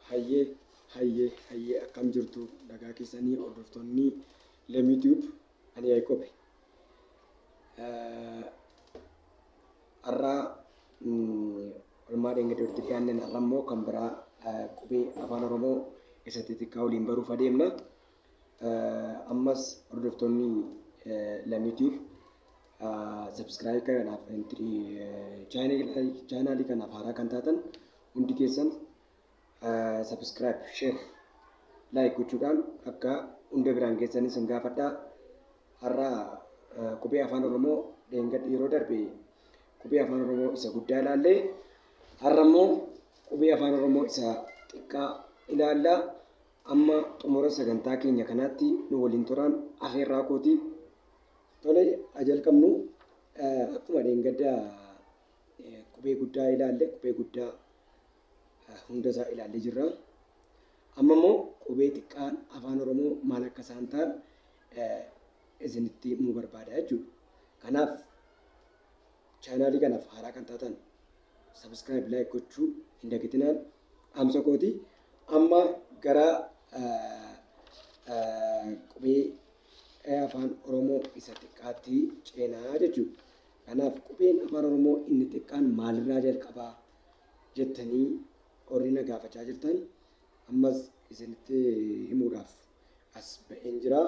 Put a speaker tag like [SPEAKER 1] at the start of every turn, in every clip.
[SPEAKER 1] Hayyee hayyee hayyee akkam jirtu nagaa keessanii hordoftoonni Lemii Tube ani Yaaqoobe. Har'aa olmaa deenga durti gaanneen har'a immoo kan biraa qubee afaan Oromoo isa xixiqqaa waliin baruuf adeemna. Ammas hordoftoonni Lamiitiif subscribe kanaaf chaanaalii kanaaf haaraa kan taatan hundi keessan subscribe, share, like gochuudhaan akka hunda biraan geessanis hin gaafadhaa. Har'a qubee afaan Oromoo dheengadhi yeroo darbe qubee afaan Oromoo isa guddaa ilaallee har'a immoo qubee afaan Oromoo isa xiqqaa ilaallaa. Amma xumura sagantaa keenya kanaatti nu waliin turaan afeerraa kooti. Tole haa jalqabnu. Akkuma dheengadda qubee guddaa ilaalle qubee guddaa hunda isaa ilaallee jirra. Amma immoo qubee xiqqaan afaan Oromoo maal akka isaan ta'an isinitti himuu barbaada jechuudha. Kanaaf chaanaalii kanaaf haaraa kan taatan sabiskiraayib laayik gochuu hin dagatinaa. Dhaamsa kooti amma gara qubee A Afaan Oromoo isa xiqqaatti ceena jechuudha. Kanaaf qubeen Afaan Oromoo inni xiqqaan maalirraa jalqaba jettanii warri na gaafachaa jirtan ammas isinitti himuudhaaf as ba'een jira.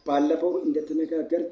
[SPEAKER 1] Baallafoo indatti nagaaggarte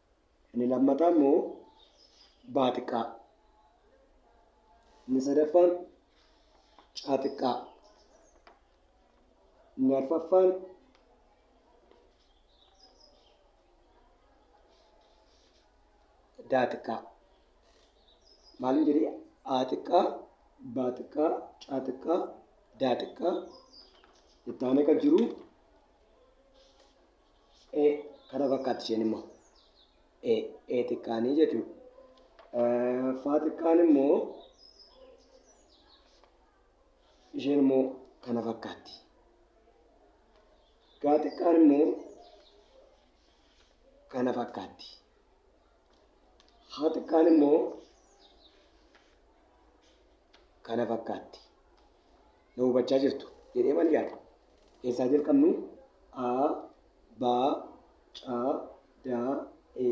[SPEAKER 1] Inni lammataa immoo baa xiqqaa. Inni sadaffaan caa xiqqaa. Inni arfaffaan daa xiqqaa. Maaliin jedhee aa xiqqaa, baa xiqqaa, caa xiqqaa, daa xiqqaa. Itti aanee kan jiru e kana fakkaatti isheen immoo e e xiqqaanii jechuudha. Eh, Faa xiqqaan immoo isheen immoo kana fakkaatti. Gaa xiqqaan immoo kana fakkaatti. Haa xiqqaan immoo kana fakkaatti. na hubachaa jirtu jedhee man yaada. Eessaa jalqabnuu? A, B, C, D, E,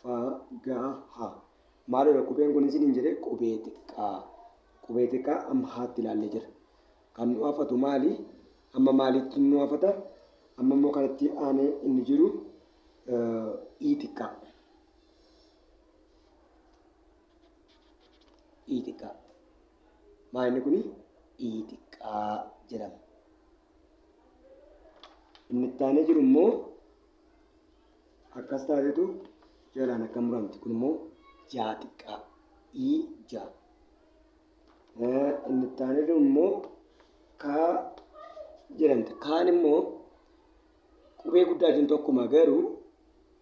[SPEAKER 1] F, G, H. Maaloodha qubeen kun isin hin jedhe qubee xiqqaa. Qubee xiqqaa amma haatti ilaallee jira. Kan nu hafatu maali? Amma maalitti nu hafata? Amma immoo kanatti aanee inni jiru ii xiqqaa. ii xiqqaa maa inni kun ii xiqqaa jedhama inni itti aanee jiru immoo akkas taatetu jalaan akka muramti kun immoo jaa xiqqaa ii jaa Eh, inni itti aanee jiru immoo kaa jedhamti kaan immoo qubee guddaa jiru tokkuma garuu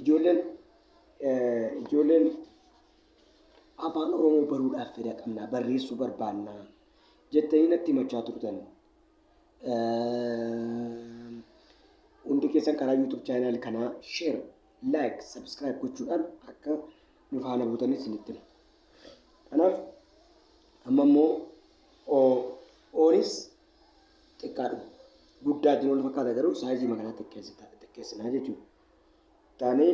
[SPEAKER 1] Ijoolleen ijoolleen afaan Oromoo baruudhaaf fedha qabnaa barreessuu barbaannaa jettanii natti himachaa turtan. Hundi keessan karaa YouTube channel kanaa share, like, subscribe gochuudhaan akka nu faana buutanis isinitti hima. Kanaaf amma immoo oonis xiqqaadhuma. Guddaa jiru wal fakkaata garuu saayizii makanaa xiqqeessinaa jechuudha. Taanee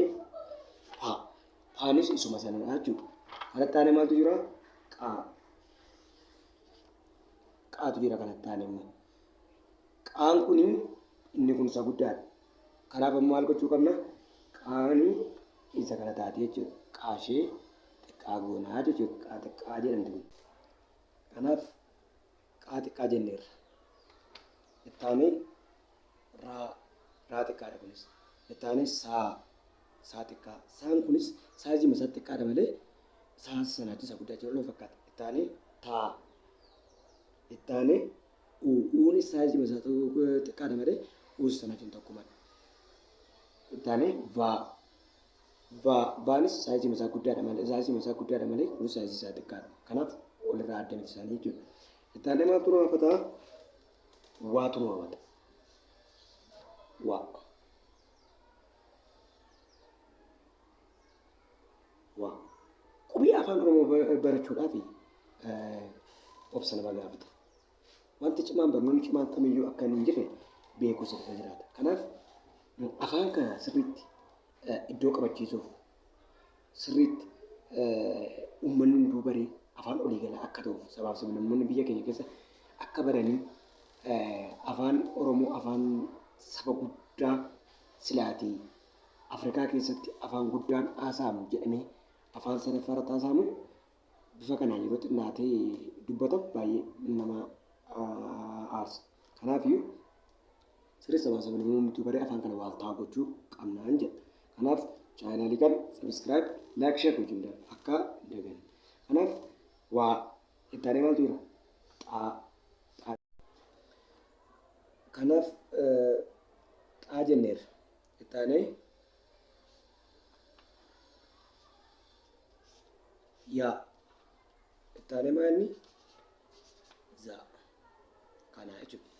[SPEAKER 1] paa. Paanis isuma sanadha jechuudha. Kana taanee maaltu jira? Qaa. Qaatu jira kana taanee immoo. Qaan kun inni kun isa guddaadha. Kanaaf ammoo maal gochuu qabna? Qaani isa kana taate jechuudha. Qaashee xiqqaa goonaa jechuudha. Qaa xiqqaa jedhamti kun. Kanaaf Qaa xiqqaa jenneerra. Itti aanee raa, raa xiqqaadha kunis. Itti aanee saa, saa xiqqaa. Saan kunis saayizii isaa xiqqaadha malee saa sanaa isa guddaa jiru nama fakkaata. Itti aanee taa. Itti aanee uu, uunis saayizii isaa xiqqaadha malee uus sana wajjin tokkumadha. Itti aanee vaa, Va, Vaanis saayiziin isaa guddaadha malee saayiziin isaa guddaadha malee kunis saayiziin isaa xiqqaadha. Kanaaf walirraa adda miti isaanii jechuudha. Itti aanee maaltu nu hafata? Waatu nu hafata. Waa. Waa. Qubee afaan Oromoo ba- barachuudhaaf eh, obsa nama gaafata. Wanti cimaan barnoonni cimaan kamiyyuu akka hin jirre beekumsa irra jiraata. Kanaaf afaan kana sirriitti iddoo qabachiisuuf sirriitti uummanni hunduu baree afaan olii galaa akka ta'uuf sabaaf sablammoonni biyya keenya keessa akka baranii afaan Oromoo afaan saba guddaa silaatii Afrikaa keessatti afaan guddaan haasa'amu jedhamee afaan sadaffaa irratti haasa'amu bifa kanaan yeroo xinnaatee dubbatan baay'ee nama aarsa. Kanaafiyyuu sirriitti sabaa sabni uumamtuu baree afaan kana waaltaa gochuu qabnaan jedha. Kanaaf chaanaalii kana sabiskiraayib laayik sheer gochuun dha akka dagan. Kanaaf waa ittaanee maaltu jira? Xaa. Xaa. Kanaaf xaa jenneerra. Itti aanee yaa. Itti aanee maa inni? Zaa. Kana jechuudha.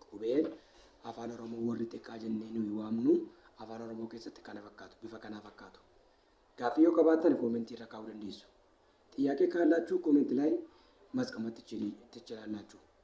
[SPEAKER 1] Qubeen afaan Oromoo warri xiqqaa jennee nuyi waamnu afaan Oromoo keessatti kana fakkaatu, bifa kanaa fakkaatu. Gaaffii yoo qabaattan koomentii irra kaa'uu dandeessu. Xiyyaaqee kaallaachuu koomenti laayi maasqamatti tichilaallaachuu.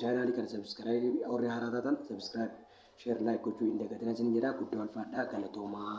[SPEAKER 1] Chaanaalii kana sabiskiraayibii warri haaraa taatan sabiskiraayibii sheer laayik gochuu hin dagatinaa isin jedhaa guddoo alfaadhaa galatoomaa.